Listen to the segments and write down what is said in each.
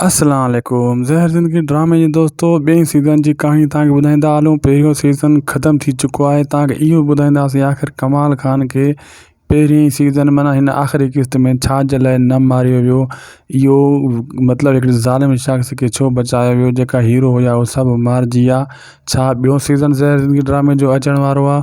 السلام عليڪم زهر زندگي ڊرامي جي دوستو ٻئي سيزن جي ڪهاڻي توهان کي ٻڌائيندا هلون پهريون سيزن ختم ٿي چڪو آهي توهان کي اهو ٻڌائينداسين آخر ڪمال خان کي پهرين سيزن معنيٰ هن آخري قسط ۾ ڇا جي لاء نه ماريو ويو اهو مطلب هڪڙي ظالم شخص کي ڇو بچايو ويو جيڪا هيرو هيا اهو سڀ مارجي ويا ڇا ٻيو سيزن زهر زندگي ڊرامي جو اچڻ وارو آهي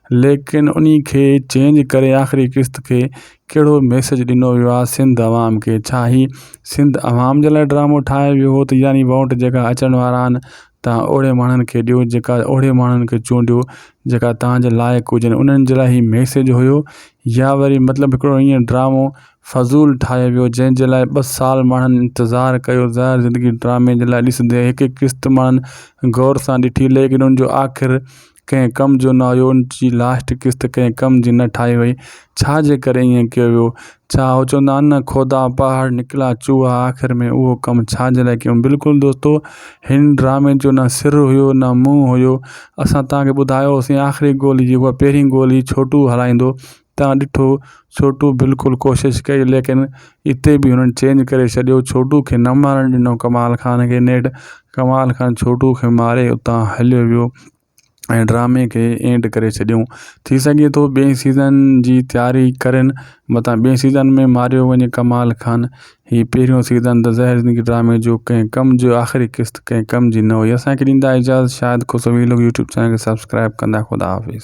ليڪن انهي کي چينج ڪري آخري قسط کي ڪهڙو ميسج ڏنو ويو آهي سنڌ عوام کي ڇا هي سنڌ عوام جي لاء ڊرامو ٺاهي ويو هو ته يعني ووٽ جيڪا اچڻ وارا آهن تان اهڙي ماڻهن کي ڏيو جيڪا اهڙي ماڻهن کي چونڊيو جيڪا تان جي لائق هجن انهن جي لاء هي ميسج هيو يا وري مطلب هڪڙو ائين ڊرامو فضول ٺاهي ويو جنهن جي لاء ٻه سال ماڻهن انتظار ڪيو ظاهر زندگي ڊرامي جي لاء ڏسندي هڪ هڪ قسط ماڻهن غور سان ڏٺي ليڪن ان جو آخر ڪنهن ڪم جو نه هيو ان جي لاسٽ قسط ڪنهن ڪم جي نه ٺاهي وئي ڇا جي ڪري ائين ڪيو ويو ڇا هو چوندا آهن نه کودا پهاڙ نڪلا چوها آخر ۾ اهو ڪم ڇا جي لاء ڪيم بلڪل دوستو هن ڊرامي جو نه سر هيو نه منهن هيو اسان تهان کي ٻڌايو هوسين آخري گولي جي هئا پهرين گولي ڇوٽو هلائيندو تان ڏٺو ڇوٽو بلڪل ڪوشش ڪئي ليڪن اتي به هنن چينج ڪري ڇڏيو ڇوٽو کي نه مارڻ ڏنو ڪمال خان کي نيٺ ڪمال خان ڇوٽو کي ماري اتان هليو ويو ۽ ڊرامي کي اينڊ ڪري ڇڏيون ٿي سگهي ٿو ٻئي سيزن جي تياري ڪرين متان ٻئي سيزن ۾ ماريو وڃي ڪمال خان هي پهريون سيزن ته زهر زندگي ڊرامي جو ڪنهن ڪم جو آخري قسط ڪنهن ڪم جي نه هئي اسانکي ڏيندا اجازت شاهد خسوي لوگ يوٽيوب چينل کي سبسڪرائب ڪندا خدا حافظ